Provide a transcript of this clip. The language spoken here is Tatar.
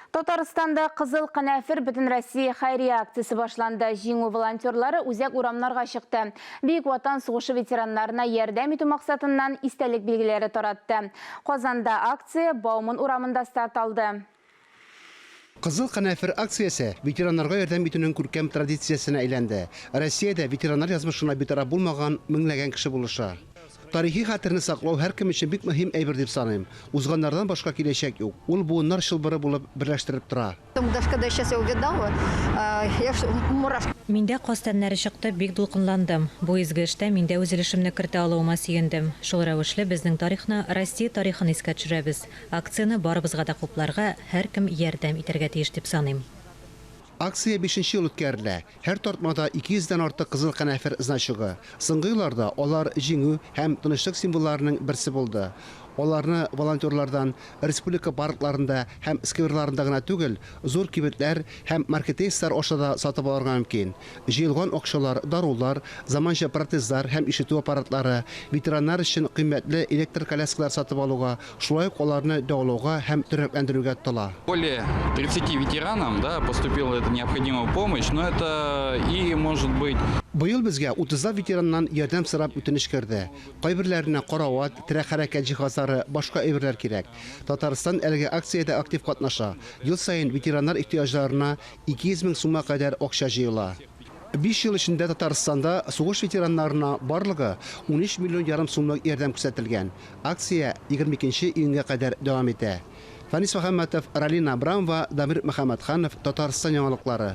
Татарстанда Кызыл канәфер бөтенроссия хәйрия акциясе башланды. Җиңү волонтерлары үзәк урамнарга чыкты. Бөек Ватан сугышы ветераннарына ярдәм итү максатыннан истәлек билгеләре таратты. Казанда акция Бауман урамында старт алды. Кызыл канәфер акциясе ветераннарга ярдәм итүнең күркәм традициясенә әйләнде. Россиядә ветераннар язмышына битараф булмаган меңләгән кеше булыша. Тарихи хәтерне саклау һәркем өчен бик мөһим әйбер дип саныйм. Узганнардан башка киләчәк юк. Ул буыннар чылбыры булып берләштереп тора. Миндә каз тәннәре чыкты, бик дулкынландым. Бу изге эштә мин дә үз өлешемне кертә алуыма сөендем. Шул рәвешле безнең тарихны, Россия тарихын искә төшерәбез. Акцияне барыбызга да хупларга, һәркем ярдәм итәргә тиеш дип саныйм. Акция бишенче ел үткәрелә. Һәр тартмада 200 дән артык кызыл канәфер значогы. Соңгы елларда алар җиңү һәм тынычлык символларының берсе булды. Аларны волонтерлардан республика паркларында һәм скверларында гына түгел, зур кибетләр һәм маркетейслар аша да сатып алырга мөмкин. Җыелган акчалар дарулар, заманча протезлар һәм ишетү аппаратлары, ветераннар өчен кыйммәтле электр коляскалар сатып алуга Шулай ук аларны дәвалауга һәм тернәкләндерүгә тотыла. Более тридцати ветеранам, да, поступила эта необходимая помощь, но это и может быть. Быел безгә утызлап ветераннан ярдәм сорап үтенеч керде. Кайберләренә карават, терәк-хәрәкәт җиһазлары, башка әйберләр кирәк. Татарстан әлеге акциядә актив катнаша, ел саен ветераннар ихтыяҗларына 200 мең сумга кадәр акча җыела. Биш ел эчендә Татарстанда сугыш ветераннарына барлыгы унөч миллион ярым сумлык ярдәм күрсәтелгән. Акция егерме икенче июньгә кадәр дәвам итә. Фанис Мөхәммәтов, Ралина Абрамова, Дамир Мөхәммәтханов, Татарстан яңалыклары.